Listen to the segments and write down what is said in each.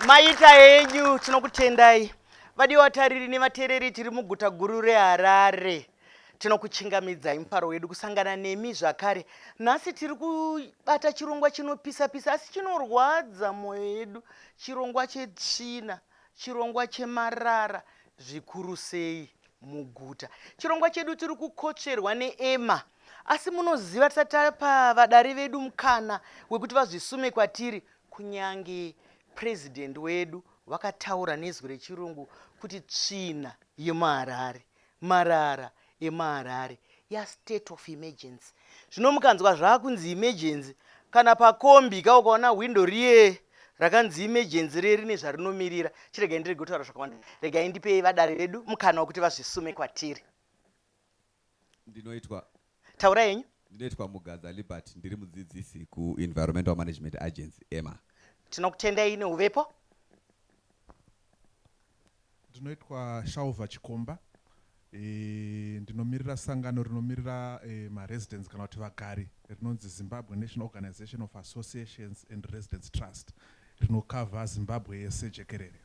maita henyu tinokutendai vadiwa tariri nevateereri tiri muguta guru reharare Tinokuchingamidzai mufaro wedu kusangana nemi zvakare. Nhasi tiri kubata chirongwa chinopisa pisa asi chinorwadza moyo yedu, chirongwa chetsvina, chirongwa chemarara zvikuru sei muguta. Chirongwa chedu tiri kukotsverwa neEma asi munoziva tisati tapa vadare vedu mukana wekuti vazvisume kwatiri kunyange president wedu vakataura nezwi rechirungu kuti tsvina yemuharare marara emaharare ya state of emergency zvino mukanzwa zvakunzi emergency kana pakombi ka ukaona hwindo riye rakanzi emergency riye rine zvarinomirira chiregai ndirege kutaura zvakawanda regai ndipei vadare vedu mukana wekuti vazvisume kwatiri ndinoitwa Taura yenyu. Ndinoitwa Mugadza Liberty ndiri mudzidzisi ku Environmental Management Agency EMA. Tinokutendai neuvepo. Ndinoitwa Shaova Chikomba. E, ndinomirira sangano rinomirira e, maresidents kana kuti vagari rinonzi Zimbabwe National Organization of Associations and Residents Trust rinokavha Zimbabwe yese jekerere.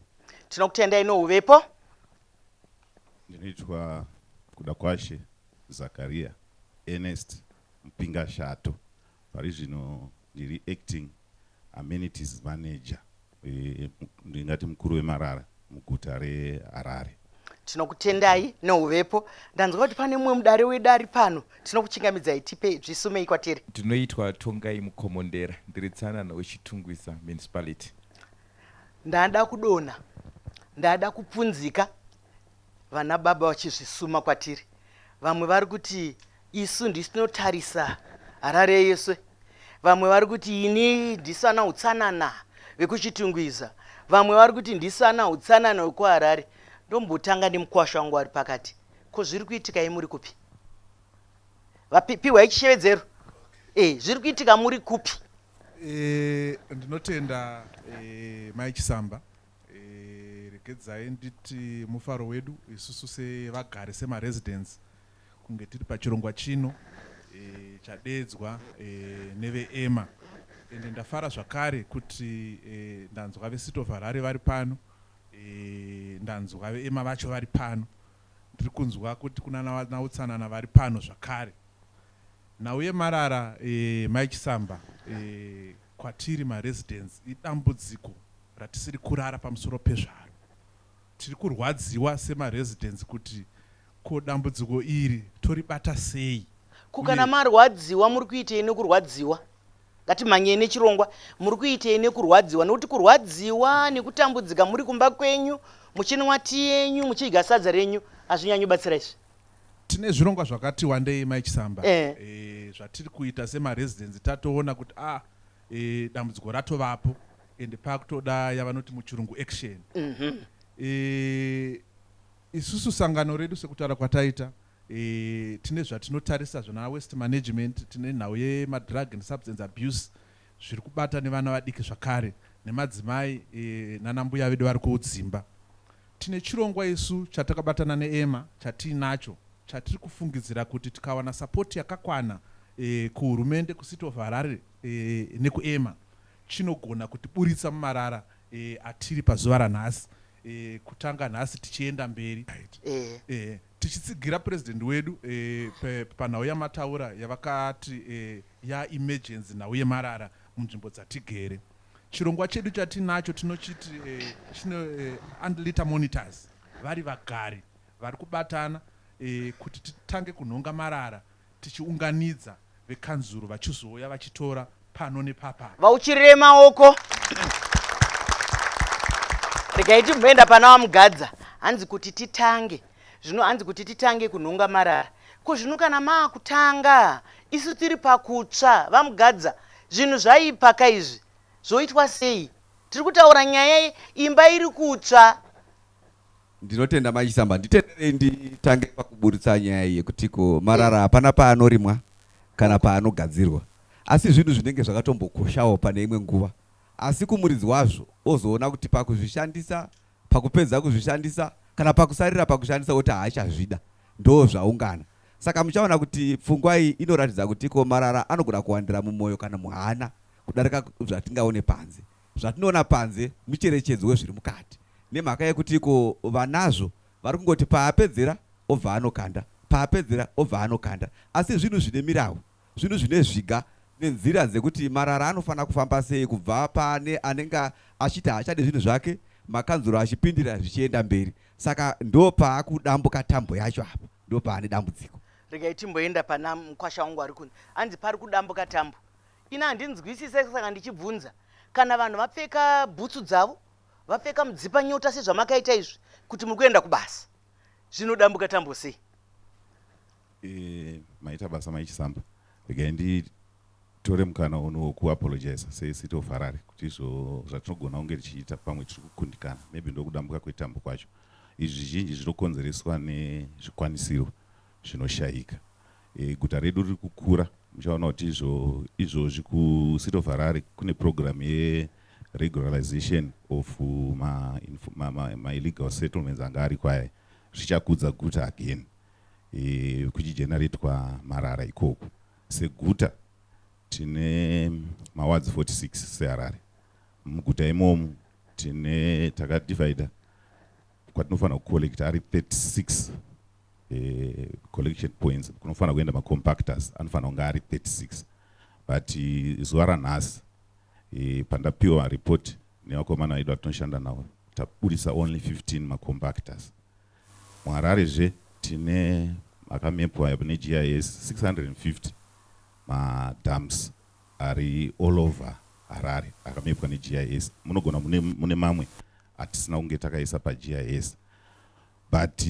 Tinokutendai neuvepo. Ndinoitwa Kudakwashe Zacharia Ernest Mupingashato pari zvino ndiri acting amenities manager eh, ndingati mukuru wemarara muguta reharare tinokutendai neuvepo ndanzwa kuti pane mumwe mudare wedu ari pano tinokuchingamidzai tipe zvisumei kwatiri ndinoitwa tongai mukomondera ndiri tsanana wechitungwiza municipality ndada kudona ndada kupunzika Vana baba vachizvisuma kwatiri. Vamwe vari kuti isu ndisu tinotarisa Harare yese. Vamwe vari kuti ini ndisu ana utsanana vekuChitungwiza. Vamwe vari kuti ndisu ana utsanana wekuHarare. Ndombotanga nemukwasha wangu wari pakati. Ko zviri kuitika imuri kupi? Vapiwa ichishevedzero. Eh, zviri kuitika muri kupi? Eh, ndinotenda eh, Mai Chisamba. Regedzai nditi mufaro wedu isusu sevagari semaresidents kunge tiri pachirongwa chino chadeedzwa neveEMA ende ndafara zvakare kuti ndanzwa veCity of Harare vari pano, ndanzwa veEMA vacho vari pano, ndiri kunzwa kuti kunana vanautsanana vari pano zvakare. Nhau yemarara Mai Chisamba Kwatiri maresidents idambudziko ratisiri kurara pamusoro pezvaro. Tiri kurwadziwa semaresidents kuti ko dambudziko iri toribata sei Ko kana uye marwadziwa muri kuitei nekurwadziwa? Ngatimhanyei nechirongwa. Muri kuitei nekurwadziwa? Nekuti kurwadziwa nekutambudzika muri kumba kwenyu muchinwa tii yenyu muchidya sadza renyu hazvinyanyi kubatsira izvi. Tine zvirongwa zvakati wandei mai Chisamba Eh. eh, zvatiri kuita semaresidents tatoona kuti ah, eh, dambudziko ratovapo and pakutoda yavanoti muchirungu action Mhm. eh, isusu sangano redu sekutaura kwataita eh, tine zvatinotarisa zvana waste management tine nhau yemadrug and substance abuse zviri kubata nevana vadiki zvakare nemadzimai e, nana mbuya vedu vari kudzimba. Tine chirongwa isu chatakabatana neEMA chatiinacho chatiri kufungidzira kuti tikawana sapoti yakakwana e, kuhurumende kuCity of Harare e, nekuEMA chinogona kutiburitsa mumarara e, atiri pazuva ranhasi e, kutanga nhasi tichienda mberi. Right. E. E. Tichitsigira President wedu eh, panhau yamataura yavakati eh, ya emergency nhau yemarara munzvimbo dzatigere. Chirongwa chedu chatinacho tinochiti eh, chine eh, unliter monitors vari vagari vari kubatana eh, kuti titange kunhonga marara tichiunganidza vekanzuru vachizouya vachitora pano nepapa. Vauchirire maoko. Regai timboenda pana vamugadza. Hanzi kuti titange. Zvino hanzi kuti titange kunhonga marara. Ko zvino kana maakutanga isu tiri pakutsva vamugadza zvinhu zvaipa ka izvi zvoitwa sei? Tiri kutaura nyaya imba iri kutsva. Ndinotenda mai Chisamba. Nditenderei nditange pakuburitsa nyaya iyi yekuti ko marara hapana paanorimwa kana paanogadzirwa. Asi zvinhu zvinenge zvakatombokoshawo pane imwe nguva asi kumuridzi wazvo ozoona kuti pakuzvishandisa, pakupedza kuzvishandisa kana pakusarira pakushandisa oti haachazvida ndoozvaungana. Saka muchaona kuti pfungwa iyi inoratidza kuti ko marara anogona kuwandira mumoyo kana muhana kudarika zvatingaone panze. zvatinoona panze mucherechedzo wezviri mukati nemhaka yekuti ko vanazvo vari kungoti paapedzera obva anokanda paapedzera obva anokanda asi zvinhu zvine mirawu zvinhu zvine zviga nenzira dzekuti marara anofanira kufamba sei kubva pane anenge achiti haachade zvinhu zvake makanzuro achipindira zvichienda mberi saka ndo paakudambuka tambo yacho apa ndo paane dambudziko regai timboenda pana mukwasha wangu ari kunzi anzi pari kudambuka tambo Ini handinzwisise saka ndichibvunza kana vanhu vapfeka bhutsu dzavo vapfeka mudzipa nyota sezvamakaita izvi kuti muri kuenda kubasa zvinodambuka tambo sei e, maita basa maichisamba regai nditore mukana uno wokuapologiza secity of harare kuti izvo zvatinogona kunge tichiita pamwe tiri kukundikana maybe ndokudambuka kwetambo kwacho izvi zvizhinji zvinokonzereswa nezvikwanisiro zvinoshaika. E, guta redu riri kukura muchaona kuti izvo izvozvi kucity of harare kune program yeregularization of maillegal ma, ma, ma settlements anga ari kwaye zvichakudza guta again e, kuchigeneratwa marara ikoko seguta tine mawards 46 seharare muguta imomu tine takadivider kwatinofanira kucollecta ari 36 eh, collection points kunofanira kuenda macompactors anofanira kunge ari 36 but eh, zuva ranhasi eh, pandapiwa report nevakomana vedu vatinoshanda navo tabudisa only 15 macompactors muharare zve tine makamepwa negis 650 madams ari all over Harare akamepwa ne GIS munogona mune mune mamwe atisina kunge takaisa pa GIS but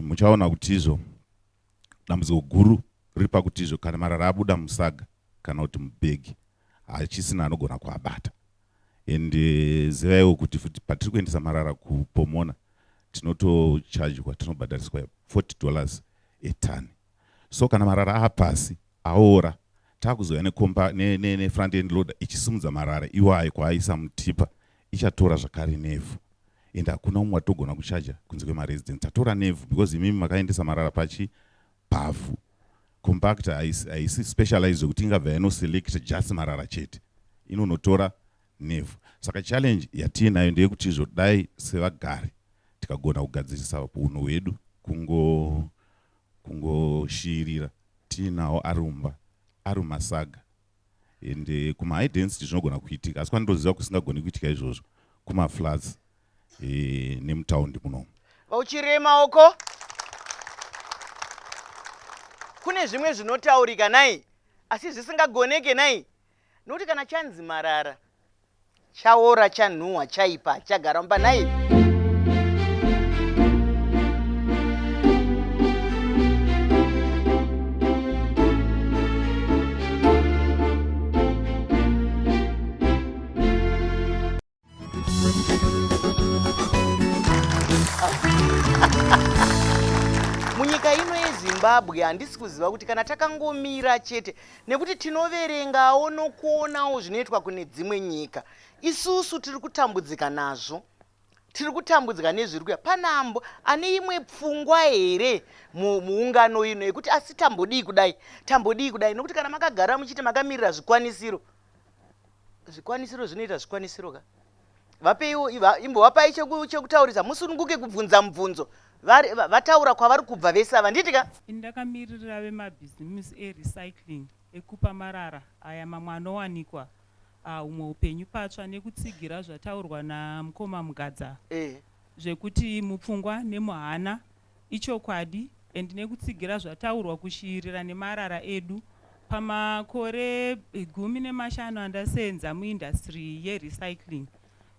muchaona kutizvo dambudziko guru riri pakutizvo kana marara abuda musaga kana kuti mubhegi hachisina anogona kuabata and eh, zivaiwo kuti futi patiri kuendesa marara kupomona tinotochargwa tinobhadhariswa 40 dollars etani so kana marara aapasi aora taakuzouya nekomba nefront ne, ne end loader ichisimudza marara iwayo kwaaisa mutipa ichatora zvakare nevhu and hakuna umwe watogona kuchaja kunze kwemaresidence tatora nevhu because imimi makaendesa marara pachi pavhu compactor haisi specialized zvekuti ingabva yanoselect just marara chete inonotora nevhu saka challenge yatiinayo ndeyekuti zvodai sevagari tikagona kugadzirisa unhu hwedu kungo Kungoshiirira tiinawo ari mumba ari mumasaga and eh, kuma high density zvinogona kuitika asi kwandoziva kusingagoni kuitika izvozvo kumaflats eh, nemutaundi munomu vauchirei maoko kune zvimwe zvinotaurika nai asi zvisingagoneke nai nokuti kana chanzi marara Chaora chanhuwa chaipa chagara mumba nhai. munyika ino yezimbabwe handisi kuziva kuti kana takangomira chete nekuti tinoverengawo nokuonawo zvinoitwa kune dzimwe nyika isusu tiri kutambudzika nazvo tiri kutambudzika nezviri kuya panambo ane imwe pfungwa here muungano ino yekuti asi tambodii kudai tambodii kudai nokuti kana makagara muchiti makamirira zvikwanisiro zvikwanisiro zvinoita zvikwanisiro ka vapeiwo imbovapai chekutaurisa musununguke kubvunza mubvunzo vataura kwavari kubva vese ava nditi ka ini ndakamiririra vemabhizimisi erecycling ekupa marara aya mamwe anowanikwa ah, humwe upenyu patsva nekutsigira zvataurwa namukoma mugadza eh. zvekuti mupfungwa nemuhana Ichokwadi and nekutsigira zvataurwa kushiirira nemarara edu pamakore gumi nemashanu andasenza muindustry ye recycling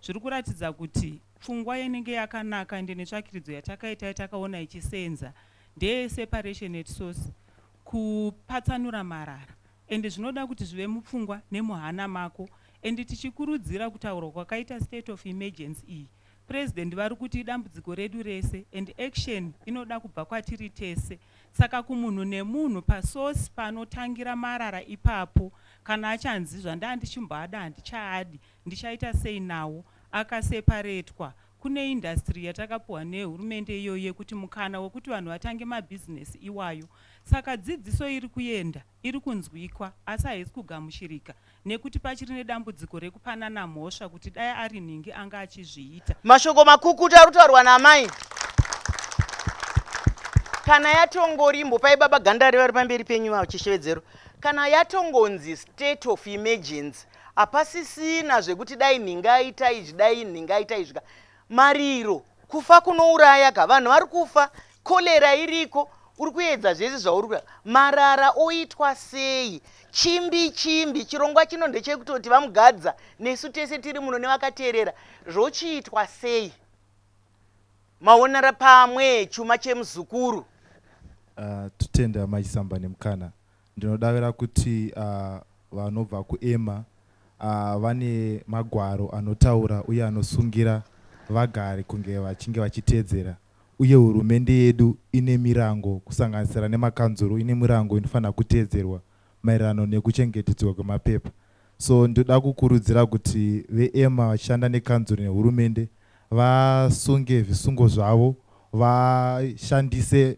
zviri kuratidza kuti pfungwa inenge yakanaka ende netsvakiridzo yatakaita yatakaona ichisenza ndeye separation at source kupatsanura marara ende zvinoda kuti zvive mupfungwa nemuhana mako ende tichikurudzira kutaurwa kwakaita state of emergency iyi President varikuti idambudziko redu rese and action inoda kubva kwatiri tese saka kumunhu nemunhu pasource panotangira marara ipapo kana achanzi zvandandichimboada handichaadi ndichaita sei nawo akaseparetwa kune industry yatakapuhwa nehurumende iyoyo yekuti mukana wekuti vanhu vatange mabusiness iwayo saka dzidziso irikuenda iri kunzwikwa asi haisi kugamuchirika nekuti pachiri nedambudziko rekupanana mhosva kuti dai ari nhingi anga achizviita. Mashoko makukutu ari kutaurwa naamai kana yatongori imbopai baba Gandare vari pamberi penyu ivavo chishevedzero kana yatongonzi state of emergency hapasisina zvekuti dai nhingi aita izvi dai nhingi aita izvika mariro Kufa kunourayaga vanhu vari kufa cholera iriko uri kuedza zvese zvauri kuda marara oitwa sei chimbi chimbi chirongwa chino ndechekutoti vamugadza nesu tese tiri muno nevakateerera zvochiitwa sei maonera pamwe chuma chemuzukuru uh, ah, tutende amai samba nemukana Ndinodavira kuti vanobva kuEMMA vane magwaro anotaura uye anosungira vagari kunge vachinge vachiteedzera uye hurumende yedu ine mirango kusanganisira nemakanzuru ine mirango inofanira kuteedzerwa maererano nekuchengetedzwa kwemapepa so ndoda kukurudzira kuti veEMMA vachishanda nekanzuru nehurumende vasunge zvisungo zvavo vashandise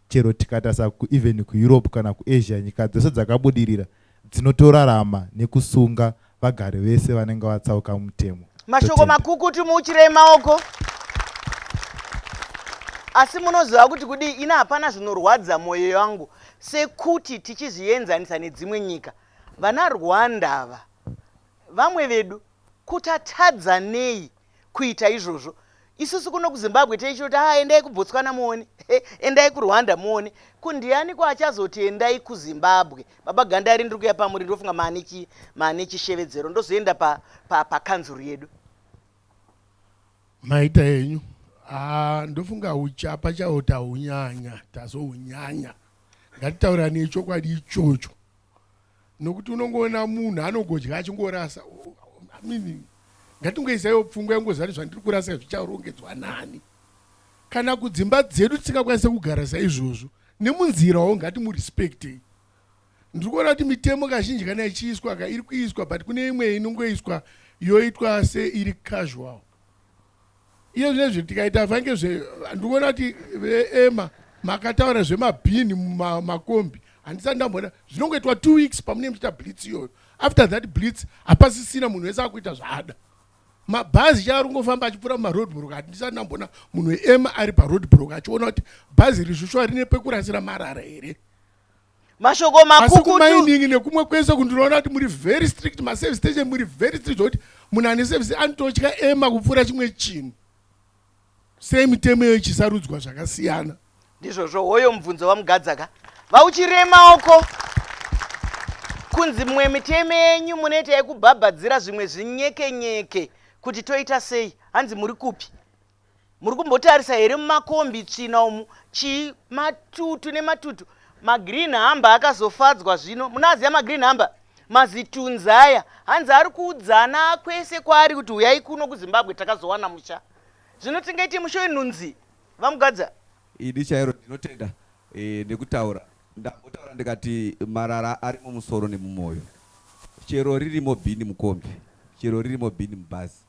Chero tikatarisa ku even ku Europe kana ku Asia nyika dzose dzakabudirira dzinotorarama nekusunga vagari vese vanenge vatsauka mutemo. Mashoko makukutu muuchirei maoko. Asi munoziva kuti kudii ini hapana zvinorwadza moyo yangu sekuti tichizvienzanisa nedzimwe nyika vana Rwanda ava vamwe vedu kutatadza nei kuita izvozvo isusu kuno kuzimbabwe taichiti kuti ah endai kubotswana muone endai kurwanda muone kundiani ko achazoti endai kuzimbabwe baba gandari ndiri kuya pamuri ndofunga maane chishevedzero ndozoenda pakanzuru pa, pa yedu maita yenyu ah, ndofunga uchapa chawo taunyanya tazounyanya ngatitaurani chokwadi ichocho nokuti unongoona munhu anogodya achingorasa mean ngatingoisaiwo pfungwa yangozari zvandiri kurasa zvicharongedzwa nani kana kudzimba dzedu tisingakwanise kugara saizvozvo nemunzirawo ngatimurespectei ndiri kuona kuti mitemo kazhinji kana ichiiswa ka iri kuiswa but kune imwe inongoiswa yoitwa seiri casual Iye zvinezvi tikaita vange zve ndikuona kuti veema makataura zvemabhini mumakombi handisati ndamboona zvinongoitwa two weeks pamunenge muchiita blitz iyoyo after that blitz hapasisina munhu wese akuita zvaada mabhazi chaari kungofamba achipfuura mumaroad broke handisati ndamboona munhu weema ari paroad broke achiona kuti bhazi rizvishwa rine pekurasira marara here mashoko makukutumainini nekumwe kwese kundinoona kuti muri very strict maservice station muri very strict zvekuti munhu ane service anototya ema kupfuura chimwe chinhu sei mitemo iyo ichisarudzwa zvakasiyana ndizvozvo hoyo mubvunzo wamugadzaka vauchiremaoko kunzi mumwe mitemo yenyu munoita yekubhabhadzira zvimwe zvinyekenyeke kuti toita sei hanzi muri kupi Muri kumbotarisa here mumakombi tsvina umu chii matutu nematutu magreen hamba akazofadzwa zvino munoaziva magreen hamba mazitunzi aya hanzi ari kuudzana kwese kwaari kuti huyai kuno kuzimbabwe takazowana musha zvino tingaite musha wenhunzi vamugadza idi chairo ndinotenda e, nekutaura ndambotaura ndikati marara ari mumusoro nemumwoyo chero ririmo bhini mukombi chero ririmo bhini mubhazi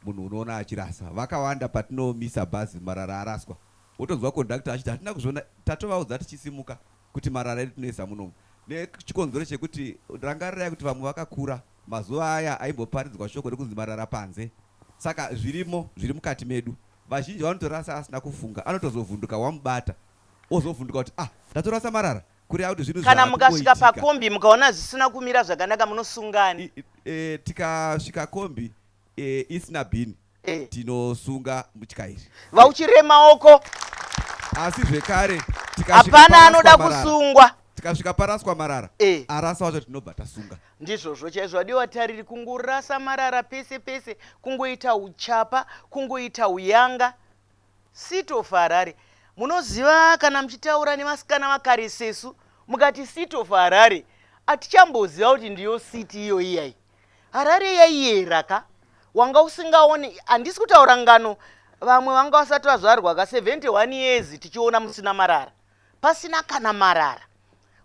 Munhu unoona achirasa vakawanda patinomisa bhazi marara araswa wotonzwa conductor achiti hatina kuzviona tatovaudza tichisimuka kuti marara edu tinoisa munomu nechikonzero chekuti rangarirai kuti vamwe vakakura mazuva aya aimboparidzwa shoko rekunzi marara panze saka zvirimo zviri mukati medu vazhinji vanotorasa asina kufunga anotozovhunduka wamubata ozovhunduka kuti ah ndatorasa marara kureva kuti zvinhu kana mukasvika pakombi mukaona zvisina kumira zvakanaka munosungani e, tikasvika kombi e, isina bhini e. tinosunga mutyairi vauchiree maoko asi zvekare hapana anoda kusungwa tikasvika paraswa marara e. arasa wacho tinobva tasunga ndizvozvo chaizvo adiwa tariri kungorasa marara pese pese kungoita uchapa kungoita uyanga City of Harare munoziva kana muchitaura nevasikana vakare sesu mukati city of Harare atichamboziva kuti ndiyo city iyoyi yayi Harare yaiyera ka wanga usingaone handisi kutaura ngano vamwe vanga vasati vazvarwa ka 71 years tichiona musina marara pasina kana marara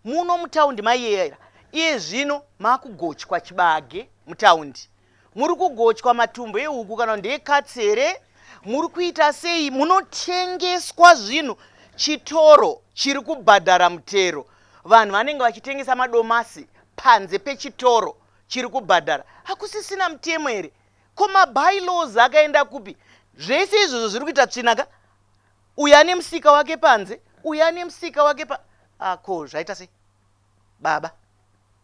Muno mutaundi maiyera iye zvino makugochwa chibage mutaundi muri kugochwa matumbu ehuku kana ndeekatsi here muri kuita sei munotengeswa zvinhu chitoro chiri kubhadhara mutero vanhu vanenge vachitengesa madomasi panze pechitoro chiri kubhadhara hakusisina mutemo here ko mabylaws akaenda kupi zvese izvozvo zviri kuita tsvinaka Uyu ane musika wake panze, uyu ane musika wake pa ah, ko zvaita sei baba?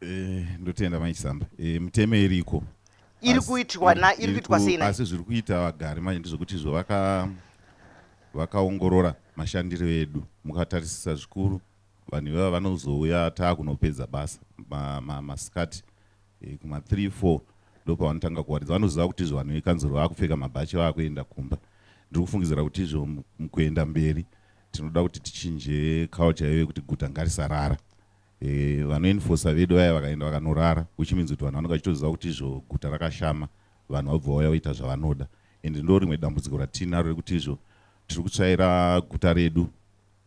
Eh, ndotenda mai Chisamba. Eh, mutemo iriko. Iri Asi- kuitwa na- iri kuitwa ku- sei na- Asi zviri kuita vagari manje ndezvekuti izvo vaka vakaongorora mashandiro edu mukatarisisa zvikuru vanhu ivava vanozouya taakunopedza basa ma- ma- masikati e, kuma 3 4 ndopavanotanga kuwaridza vanoziva kuti izvo vanhu vekanzuro vakupfeka mabhachi vakuenda kumba ndiri kufungidzira kuti izvo mukuenda mberi tinoda kuti tichinje culture yeve kuti guta ngarisarara e, vanoenfosa vedu vaya vakaenda vakanorara which means kuti vanhu vanenge vachitoziva kuti izvo guta rakashama vanhu vabva vauya voita zvavanoda and ndo rimwe dambudziko ratinaro rekuti izvo tiri kutsvaira guta redu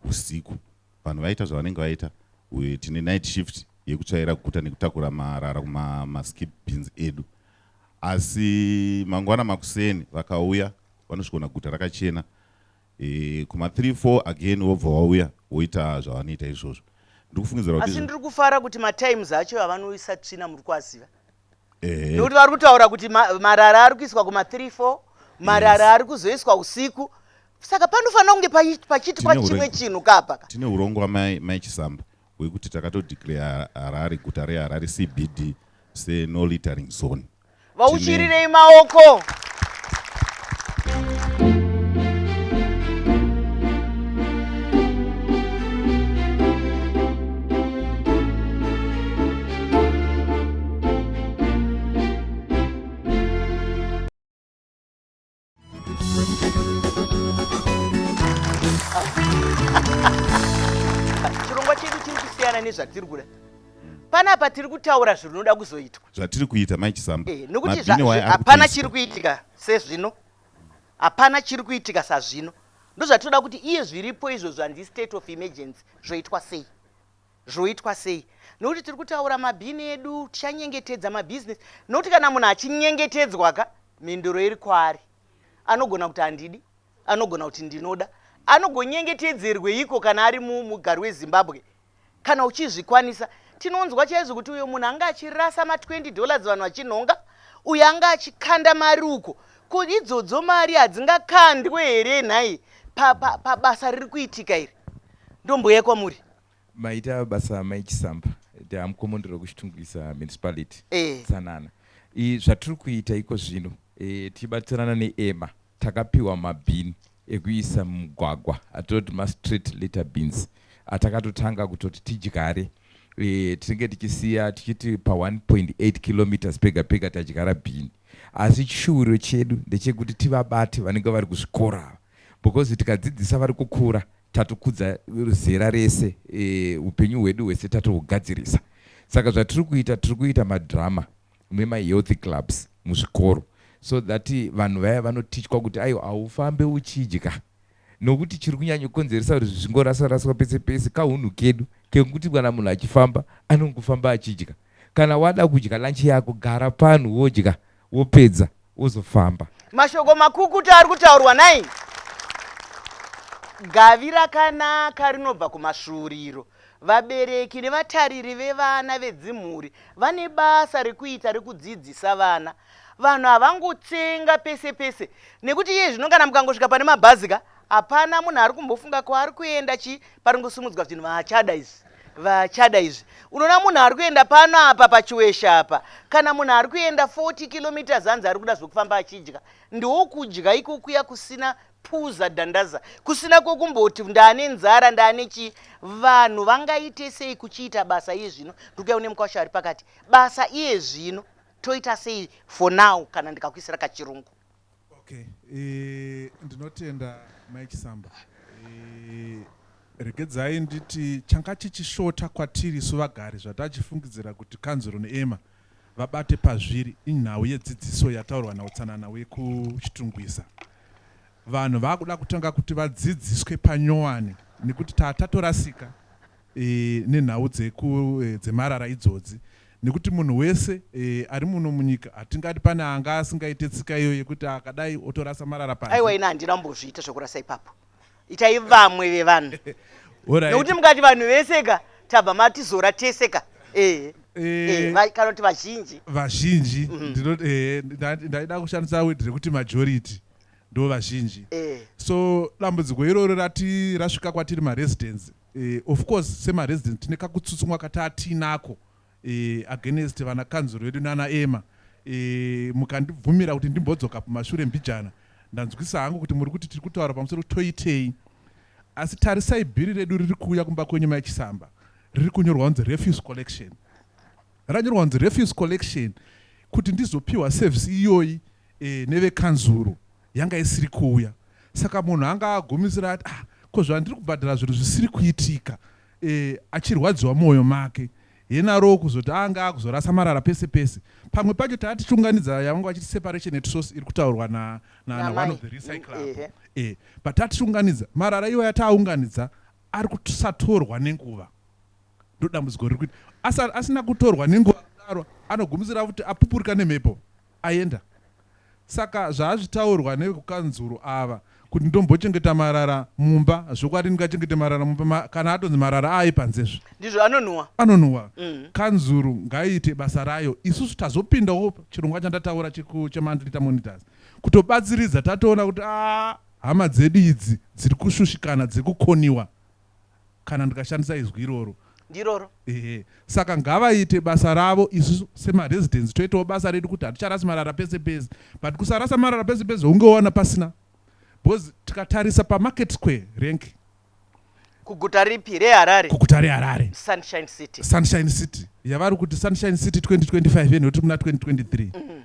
usiku vanhu vaita zvavanenge vaita uye tine night shift yekutsvaira guta nekutakura marara kumaskip bins edu asi mangwana makuseni vakauya vanosvikona guta rakachena e, kuma 3 4 again wobva wauya woita zvavanoita izvozvo ndiri kufungidzira asi ndiri kufara kuti matimes acho avanoisa tsvina muri kuaziva nekuti vari kutaura kuti marara ari kuiswa kuma 3 4 marara ari kuzoiswa usiku saka panofanira kunge pachiitwa chimwe chinhu kapa tine urongo wamai chisamba hwekuti takatodeclare harare guta reharare cbd seno littering zone vauchirirei maoko chirongwa chedu chiri kusiyana nezvatiri kuda panapa tiri kutaura zvinoda kuzoitwa zvatiri kuita mai chisamba eh, nokuti hapana chiri kuitika sezvino hapana chiri kuitika sazvino ndozvatinoda kuti iye zviripo izvo zvanzi state of emergency zvoitwa sei Zvoitwa sei? Nokuti tiri kutaura mabhini edu, tichanyengetedza mabhizinesi. Nokuti kana munhu achinyengetedzwa ka, mhinduro iri kwaari. Anogona kuti handidi, anogona kuti ndinoda. Anogonyengetedzerweiko kana ari mugari weZimbabwe? Kana uchizvikwanisa, tinonzwa chaizvo kuti uyo munhu anga achirasa ma 20 dollars vanhu vachinhonga, uyo anga achikanda mari uko. Ko idzodzo mari hadzingakandwe here nhai pabasa riri kuitika iri? Ndomboya kwamuri. Maita basa mai Chisamba. They are mkomondoro kuChitungwiza municipality. Eh. Tsanana. I, zvatiri kuita iko zvino e, tichibatsirana neEMA takapiwa mabhini ekuisa mumugwagwa atoti mastreet litter beans atakatotanga kutoti tidyare e, tinenge tichisiya tichiti pa 1.8 kilometers pega pega tadyara bhini asi chishuviro chedu ndechekuti tivabate vanenge vari kuzvikora ava Because tikadzidzisa vari kukura tatukudza zera rese upenyu e, hwedu hwese tatohugadzirisa. Saka zvatiri kuita tiri kuita madrama memahealthy clubs muzvikoro so that vanhu vaya vanotichwa kuti aiwa haufambe uchidya nokuti chiri kunyanyokonzeresa kuti zvingorasaraswa pese pese kaunhu kedu kekuti kana munhu achifamba anongofamba achidya kana wada kudya lanchi yako gara panhu wodya wopedza wozofamba. Mashoko makukutu ari kutaurwa nai gavi rakanaka rinobva kumasvuuriro. Vabereki nevatariri vevana vedzimhuri vane basa rekuita rekudzidzisa vana. Vanhu havangotsenga pese pese nekuti iye zvino kana mukangosvika pane mabhazi ka hapana munhu ari kumbofunga kwaari kuenda chii pari kusimudzwa zvinhu vaachada izvi. vachada izvi unoona munhu ari kuenda pano apa pachiweshe apa kana munhu ari kuenda 40 kilometers hanzi ari kuda zvekufamba achidya ndokudya ikokuya kusina puza dhandaza kusina kwokumboti ndaane nzara ndaane chii vanhu vangaite sei kuchiita basa iye zvino ndikuya une mukwasha ari pakati basa iye zvino toita sei for now kana ndikakuisira kachirungu Okay, e, ndinotenda mai Chisamba. E, regedzai nditi changa chichishota kwatiri isu vagari zvatachifungidzira kuti kanzuro neema vabate pazviri inhau yedzidziso yataurwa nautsanana wekuchitungwiza vanhu vakuda kutanga kuti vadzidziswe panyowani nekuti tatatorasika nenhau dzeku dzemarara idzodzi nekuti munhu wese ari muno munyika hatingati pane anga asingaite tsika iyo yekuti akadai otorasa marara panze aiwa ina handina mbozviita zvekurasa ipapo itai vamwe vevanhu nekuti mukati vanhu vese ka tabva matizora tese ka ehe Eh, eh, kana kuti vazhinji vazhinji mhm. eh, ndaida kushandisa word rekuti majority ndo vazhinji so dambudziko iroro rati rasvika kwatiri maresidence Eh, of course sema residents tine kakutsutsumwa kataa tiinako eh, against vana kanzuru vedu nana ema eh, mukandibvumira kuti ndimbodzoka kumashure mbijana ndanzwisa hangu kuti muri kuti tiri kutaura pamusoro kuti toitei asi tarisai bhiri redu riri kuuya kumba kwenyu mai chisamba riri kunyorwa kunzi refuse collection ranyorwa kunzi refuse collection kuti ndizopiwa service iyoyi eh, nevekanzuru yanga isiri kuuya saka munhu anga agumisira ati ah, ko zvandiri kubhadhara zvinhu zvisiri kuitika e, achirwadziwa mwoyo make henaroo kuzoti anga akuzorasa marara pese pese pamwe pacho taa tichiunganidza yavanga vachiti separation at source iri kutaurwa na, na, na one of the recycle apo e, eh, but taa tichiunganidza marara iwo yataaunganidza ari kusatorwa nenguva ndodambudziko riri kuita asina kutorwa nenguva kudaro anogumisira kuti apupurika nemhepo Aenda. Saka zvaazvitaurwa nevekukanzuru ava kuti ndombochengeta marara mumba zvokwadi ndingachengete marara mumba ma, kana atonzi marara aaye panzezve. Ndizvo anonhuwa. Anonhuwa. Mm. Kanzuru ngaiite basa rayo isusu tazopindawo chirongwa chandataura cheku cheMandrita Monitors kutobatsiridza tatoona kuti aa hama dzedu idzi dziri kushushikana dzekukoniwa. kana ndikashandisa izwi iroro ndiroro ehe saka ngavaite basa ravo isu semaresidence toitawo basa redu kuti haticharasi marara pese pese but kusarasa marara pese pese hunge wowana pasina because tikatarisa pamarket square rank kuguta ripi reharare kuguta reharare sunshine city sunshine city yavari kuti sunshine city 2025 yeno tiri muna 2023 mm.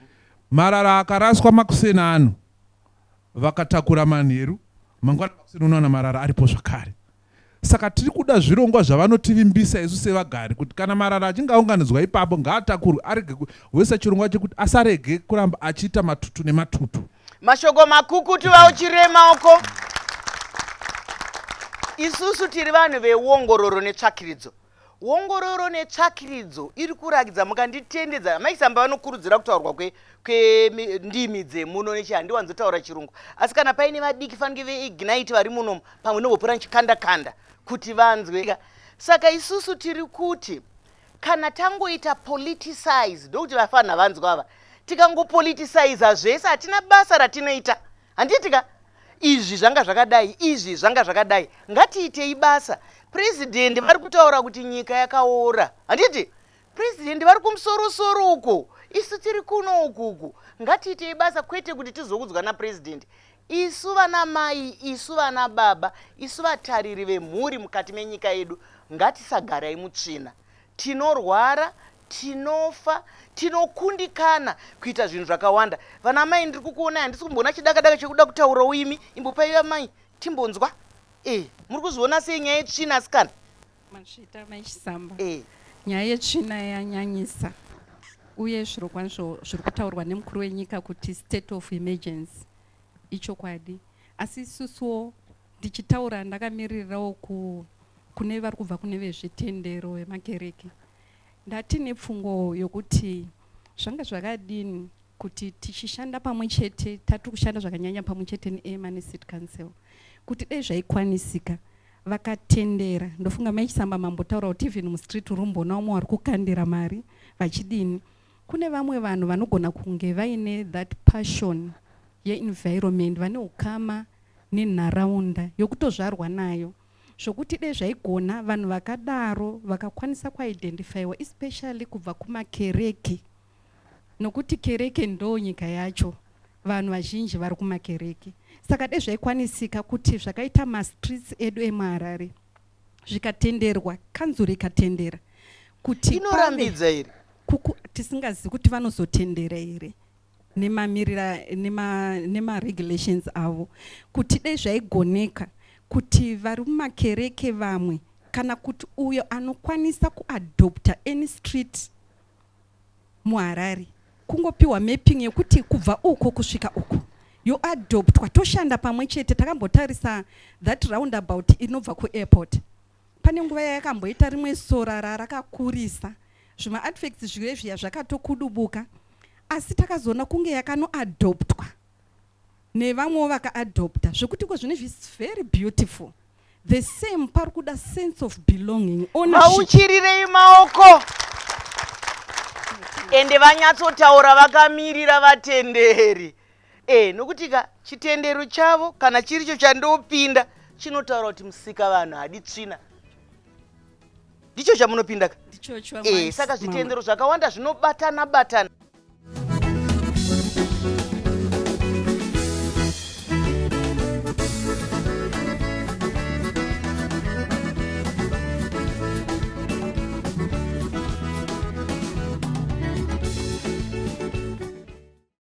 marara akaraswa makuseni ano vakatakura manheru, mangwana makuseni unowana marara aripo zvakare. Saka tiri kuda zvirongwa zvavanotivimbisa isu sevagari kuti kana marara achinge aunganidzwa ipapo ngaatakurwe arege kuisa chirongwa chekuti asarege kuramba achiita matutu nematutu. Mashoko makukutu vauchirema uko. Isusu tiri vanhu veuongororo netsvakiridzo. Wongororo netsvakiridzo iri kurakidza mukanditendedza amai Samba vanokurudzira kutaurwa kwe, kwendimi dzemuno nechi handiwanzotaura chirungu asi kana paine vadiki fanike veignite vari munomu pamwe novopura nchikandakanda kuti vanzwe saka isusu tiri kuti kana tangoita politicize ndokuti vafanha vanzwa ava tikangopoliticiza zvese hatina basa ratinoita handiti ka izvi zvanga zvakadai izvi zvanga zvakadai ngatiitei basa purezidhendi vari kutaura kuti nyika yakaora handiti purezidhendi vari kumusorosoro uko isu tiri kuno ukuku ngatiitei basa kwete kuti tizoudzwa napurezidhendi isu vana mai isu vana baba isu vatariri vemhuri mukati menyika yedu ngatisagarai mutsvina Tinorwara, tinofa, tinokundikana kuita zvinhu zvakawanda. Vana amai ndiri kukuonai handisi kumboona chidaka daka chekuda kutaurawo imi. Imbopai amai timbonzwa. Eh, muri kuzviona sei nyaya yetsvina asikana? Mazvita mai Chisamba. Eh. Nyaya yetsvina yanyanyisa uye zvirokwazvo zviri kutaurwa nemukuru wenyika kuti state of emergency ichokwadi asi isusuwo Ndichitaura ndakamiririrawo ku, kune vari kubva kune vezvitendero vemakereke. Ndati nepfungwa yokuti zvanga zvakadini kuti tichishanda pamwe chete, tati kushanda zvakanyanya pamwe chete neema necity council, kuti dai zvaikwanisika vakatendera ndofunga mai chisamba mambotaura kuti even mustreet urumboona umwe wari kukandira mari vachidini kune vamwe vanhu vanogona kunge vaine that passion yeenvironment vane ukama nenharaunda yokutozvarwa nayo zvokuti dai zvaigona vanhu vakadaro vakakwanisa kuidentifyiwa especially kubva kumakereke nokuti kereke ndoo nyika yacho vanhu vazhinji vari kumakereke saka dai zvaikwanisika kuti zvakaita mastreets edu emuharare zvikatenderwa kanzuru ikatendera kuti inorambidza here tisingazivi kuti vanozotendera here nemamirira nema, nema regulations avo kuti dai zvaigoneka kuti vari mumakereke vamwe kana kuti uyo anokwanisa kuadopta any street muharare kungopiwa mapping yekuti kubva uko kusvika uko yoadoptwa toshanda pamwe chete takambotarisa that roundabout inobva kuairport Pane nguva yayakamboita rimwe sora rarakakurisa zvima artifacts zviye zviya zvakatokudubuka asi takazoona kunge yakanoadoptwa nevamwewo vakaadopta zvekuti ko zvine zvisi very beautiful the same pari kuda sense of belonging mauchirirei maoko ende vanyatsotaura vakamirira vatenderi Eh, nokuti ka chitendero chavo kana chiricho chandopinda chinotaura kuti musika vanhu hadi tsvina ndicho chamunopinda ka ndichocho eh, amai saka zvitendero zvakawanda zvinobatana batana